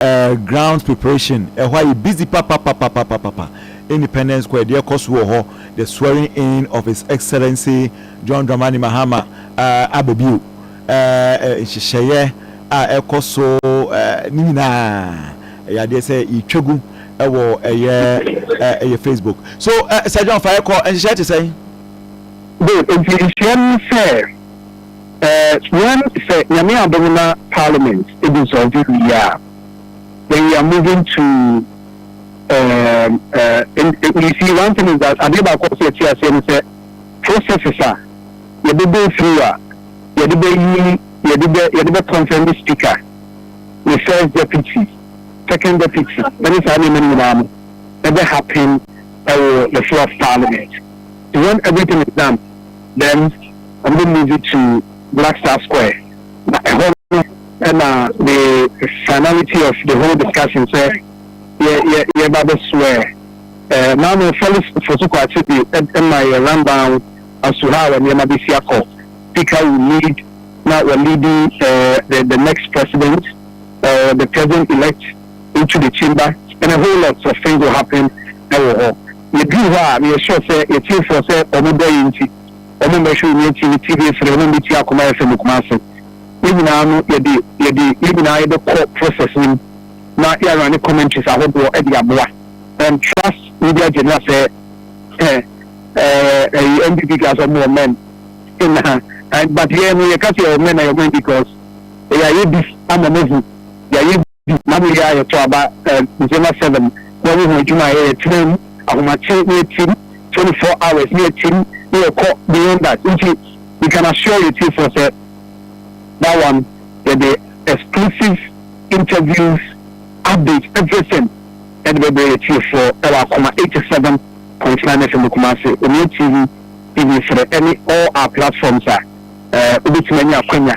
eh ground preparation ɛhɔ ayɛ busy papapapapapapa independence kɔ ɛdeɛ kɔ so wɔ hɔ the swearing in of his excellency John Dramani Mahama eh aba bio eh nhyehyɛeɛ a ɛkɔ so eh ne nyinaa ɛyɛ adeɛ sɛ yɛtwa gu ɛwɔ ɛyɛ eh ɛyɛ Facebook so eh Sir John fa ɛkɔ nhyehyɛeɛ te sɛn. Good nti nhyira no sɛ. Eh well sɛ Nyame adom na parliament dissolve wie a then we are moving to ehm eh you see one thing is that adeɛ baako a ɛsɛ sɛ yɛte aseɛ ne sɛ processes a yɛbɛ go through a yɛde bɛyi yɛde bɛ yɛde bɛ confirm ne speaker ne first deputy second deputy ɛne saa nneɛma no nyinaa no ɛbɛ happen ɛwɔ the floor of parliament when everything is done. then ɔmo de moved to Black Star Square na ɛhɔ no ɛna the finality of the whole discussion sɛ yɛ yɛ yɛba bɛ swear eh, now no Felix Fosu Kwakye de ɛma yɛ rundown as to how nneɛma bɛsi akɔ speaker will lead na wɔ leading eh, the, the next president or the president elect into the chamber and a whole lot of things will happen wɔ hɔ. Yɛduruu hɔ a, meyɛ sure sɛ yɛtiefoɔ sɛ wɔn dɔ yɛn nti, wɔn mmɛhwee Nea Ɛte ne TV ase na wɔn mmɛtie Akoma FM Kumasi. Yɛn nyinaa no yɛde yɛde yɛn nyinaa yɛbɛkɔ process no mu na yɛarane commentaries ahodoɔ de aboa and trust media general sɛ eh, eh, eh, NDP guys wɔn wɔ men na and but yɛn no yɛka sɛ yɛwɔ men na yɛwɔ men because yɛayɛ bi ama mahu yɛayɛ Na mewie a yɛtɔ aba December seven na yɛyɛ ho adwuma a ɛyɛ yɛ tena mu ahomakye na yɛtim twenty four hours na yɛtim na yɛkɔ beyond that nti you can assure yɛ tiefoɔ sɛ that one yɛde exclusive interviews updates everything yɛde bɛbrɛ yɛ tiefoɔ ɛwɔ akoma eighty seven point nine FM Kumasi Onua TV TV frɛ ɛne all our platforms a wobɛtumi anya akwanya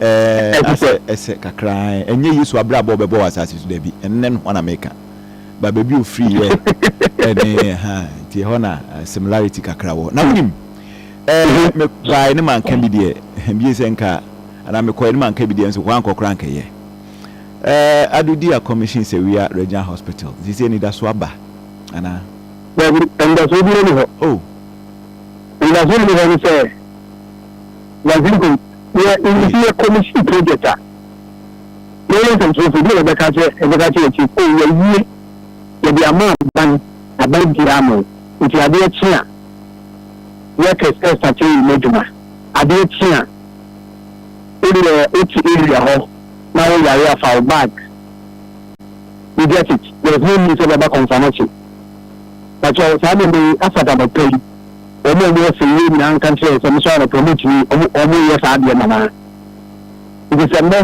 Ɛɛ, asɛ ɛsɛ kakra ara. Ɛnyɛ Yesu abrabɔ a ɔbɛbɔ wɔ asase so, dabi. Ɛnnɛ no ho na meka. Ba baabi a ɔfiriiɛ ɛne ɛha nti ɛhɔ na similarity kakra wɔ. Na wonim, ɛɛ, mebaeɛ ne manka bi deɛ, bie sɛ nka, anaa mekɔeɛ ne manka bi deɛ nso, hɔ ankɔ koraa anka ɛyɛ. Ɛɛ, Ado di a commission Sawia Regional Hospital, seesei anidasoɔ aba, anaa? Dabi, anidasoɔ biara nni hɔ. Oh. Anidasoɔ nni hɔ ne sɛ, na Zimcom yɛ nyinsiyɛ commission project a, yɛyɛ nsɛmtwerɛfoɔ deɛ na yɛbɛka akyerɛ yɛbɛka akyerɛ yɛn chief oh yɛawie yɛde ama aban aban biara ama wo nti adeɛ kye a workers ɛstate wo mu adwuma adeɛ kye a wodeɛ wote area hɔ na wo yare afa wo bag you get it there is no need sɛ bɛba kɔnfanakye pakyɛ saa nneɛma yi afata bɛpa yi wɔn a wɔwɔ sɛ yie nyinaa nka nkyerɛ wɔn sɛ wɔsɔre anɔpa wɔtumi wɔyɛ saa adeɛ no anaa nti sɛ nnɛ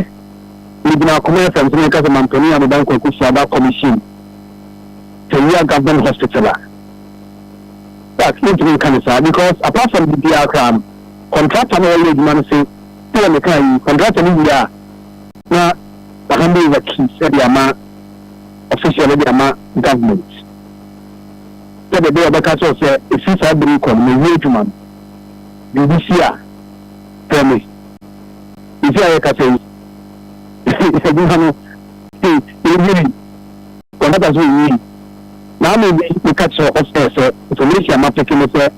megyina akoma fm sɛ meka sɛ mampanin a meba nkɔ akɔsi aba commission sɛwia government hospital a but mentumi nka ne saa because apart from biribiara koraa no contractor no wɔyɛ adwuma no se sɛ meka yi contractor no wie a na ahande over keys de ama official de ama government sɛdeɛ ɛbɛyɛ a ɔbɛka akyerɛ wo sɛ ɛfiri saa berɛ yi kɔ no mawie adwuma no. Biribi si a, frɛ me. Seesei a yɛrekasa yi, adwuma no yɛnwiri, kɔntrata nso yɛnwiri. Maame bi na ɔka kyerɛɛ ɔsɛ sɛ information a mapeke ne sɛ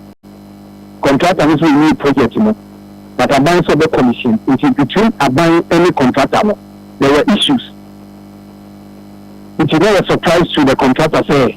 kɔntrata no nso renwie project no but aban nso ɔbɛ commission nti between aban ne kɔntrata no there were issues nti na ɛyɛ surprise to the kɔntrata sɛ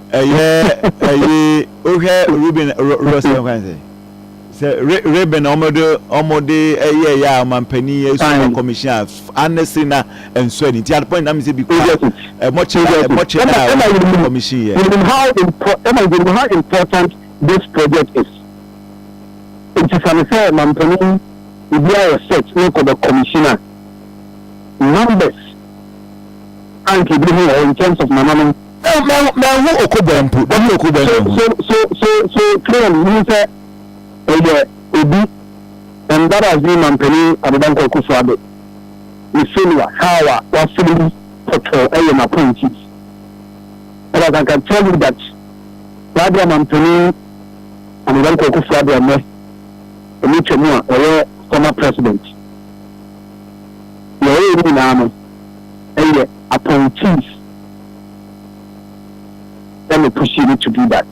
Ɛyɛ ɛyi wohwɛ Ruben Russell nkan sɛ sɛ Ruben na wɔde wɔde ɛyɛ ɛyɛ a ɔmampanin ɛsoro commission a anɛsiri na nso ɛni nti adepɔn nyinaa mi sɛ bi kura ɛmɔkyɛ ɛmɔkyɛ a commission yɛ. You know how important you know how important this project is nti sani sɛ mampanin ebi ayɛ set ne kɔ bɛ commission a numbers anka ebi ho wɔ in terms of nananom. Eh, mɛ mɛ ho okobɔ mpo, bɛ ho okobɔ mɛ ho. So so so so clearly, mo sɛ ɛyɛ obi, and that has been mampanin Adedankwa Akufo-Addo, ne failure, how a wasɛm yi pɔtɔɔ ɛyɛ n'appointees. But as I can tell you that, saa bia mampanin Adedankwa Akufo-Addo ɛnɛ, ɛmu twɛ mu a ɛyɛ former president, yɛ ɛyɛ nyinaa no ɛyɛ appointees. na me pushing me to do that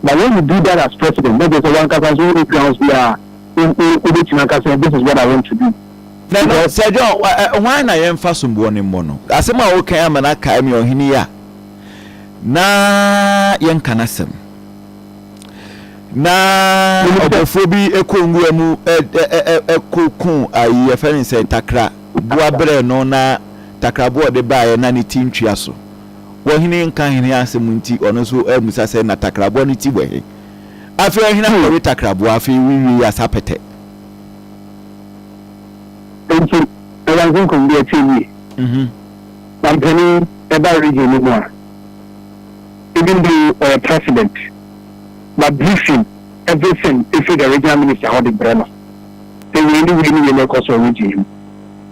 but when you do that as president na kyerɛ sɛ wankasa nso wonni grounds bi a wobɛtumi aka sɛ this is what I want to do. Na no Sir John hwan na yɛmfa somboɔ no mmɔ no? Asɛm a wokan ama no akae me ɔhene yi a na yɛnka no asɛm na ɔbɔfoɔ bi kɔ nwura mu kɔku ayi yɛfɛ ne sɛ takra boa berɛ no na takraboa a ɔde baeɛ na ne ti ntua so. Wɔ ɔhene nka hene asɛm nti, ɔno nso ammisa sɛ, Na takraboa no ti wɔ he? Afei ɔhene awe takraboa, afei wowiei asa pɛtɛ. Enti ɛda nkonkom bi akyi awie. Na mpanin ɛba region no mu a, even though ɔyɛ president, but briefing, everything firi the regional minister hɔ de brɛ no sɛ wei ne wei ne wei na ɛkɔ so wɔ region yi mu.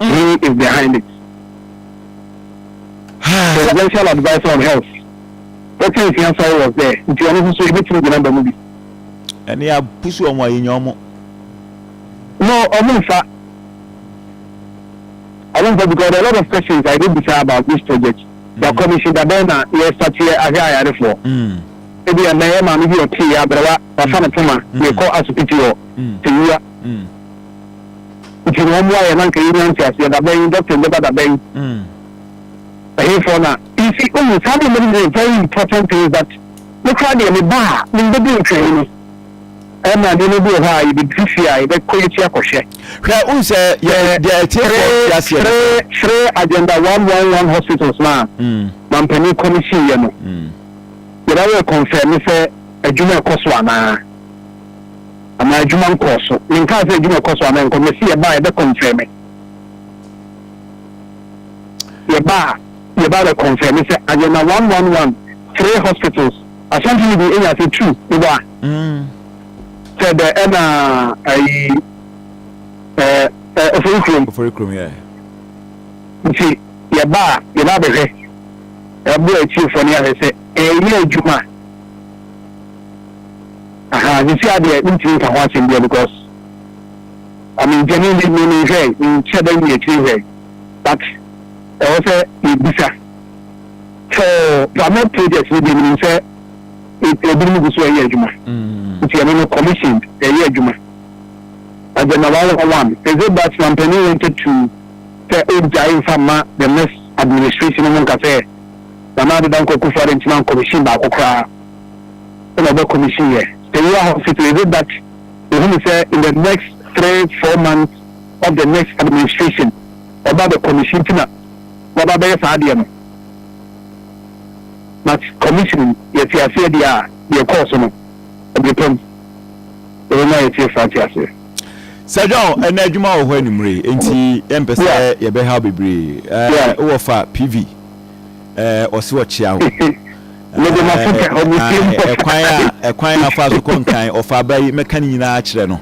He is behind it. Presidential adviser on health. Dr. Nsia Sare was there. Nti ɔno nso so ebetumi gyina ba mu bi. Ɛne a pusu wɔn a yɛnya wɔn. No, ɔmo nfa. Ɔmo nfa because there are a lot of questions I dey bisa about this project. Mm. The commission dabɛn na yɛ start yɛ ahwɛ ayarefoɔ. Mm. Ebi yɛ mɛyɛ maame bi ɔte yɛ abɛrɛwa wafa ne poma yɛ kɔ asopiti wɔ tewura. nti na wɔn ayɛ na nka yɛn nyinaa nteaseɛ dabɛn yi dɔkta bɛba dabɛn yi mm. ɛhefoɔ na nti owu saa deɛ mɛde deɛ very important things that ne kora deɛ ne ba a ne mbɛdi ntwɛn no ɛma deɛ no bi wɔ hɔ a yɛbɛduru fie a yɛbɛkɔ yɛkyi akɔhwɛ hwɛ wohu sɛ deɛ ɛtiefoɔ teaseɛ no frɛ agenda 111 hospitals no a mm. mampanin kɔ no siiɛ no mm. yɛbɛyɛ confirm sɛ adwuma ɛkɔ so anaa Anaa adwuma nkɔɔ so. Menkaa sɛ adwuma kɔ so anaa ɛnkɔ. Mese yɛbaa a yɛbɛ kɔnfɛme. Yɛbaa a yɛbaa bɛ kɔnfɛme sɛ adeɛ na one one one three hospitals Asante no bi enya sɛ two mebɔ a. Sɛ dɛ ɛna ayi ɛɛ ofori kurom. Ofori kurom yɛ. Nti yɛbaa a yɛbaa bɛhwɛ ɛbo atiefoɔ ne ahwɛ sɛ ɛyɛ adwuma. Ahaa sesia deɛ mentumi nka ho asɛm bia because I mean deɛ me me me hwɛ nkyɛ dɛ nyɛ akyiri hwɛ but ɛwɔ sɛ yɛbisa for Pramod project no deɛ menim sɛ ebinom gu so ɛyɛ adwuma nti ɛno no commissioned ɛyɛ adwuma agenda one one one is it that mampanin wanted to sɛ ɔgyae nfa ma the next administration no mu nka sɛ nana adeda nkɔ kufu adɛ nti ma commission baako koraa na ɔbɛ commission yɛ Payua hospital is it that ohunu sɛ in the next three four months of the next administration ɔbɛ abɛ commission nti na waba abɛyɛ saa adeɛ no but commissioning yɛte aseɛ deɛ a deɛ ɛkɔɔ so no ɛbrepam ɛwɔ mu a yɛtie saa te aseɛ. Sir John, ɛnna adwuma wɔ hɔ animire, nti yɛmpɛ sɛ yɛbɛhaw bebree. Wowɔ fa PV. ɛɛ ɔsi ɔkyea o. Mede ma fo pɛ ɔmo tie mu pɛ. Ɛkwan a ɛkwan a afa so kɔ nkan ɔfa aba yi mɛka ne nyinaa kyerɛ no.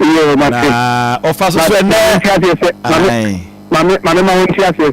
Yoo ma te. Na ɔfa so so ɛnɛ. Maame maame maame ma wɔn ti aseɛ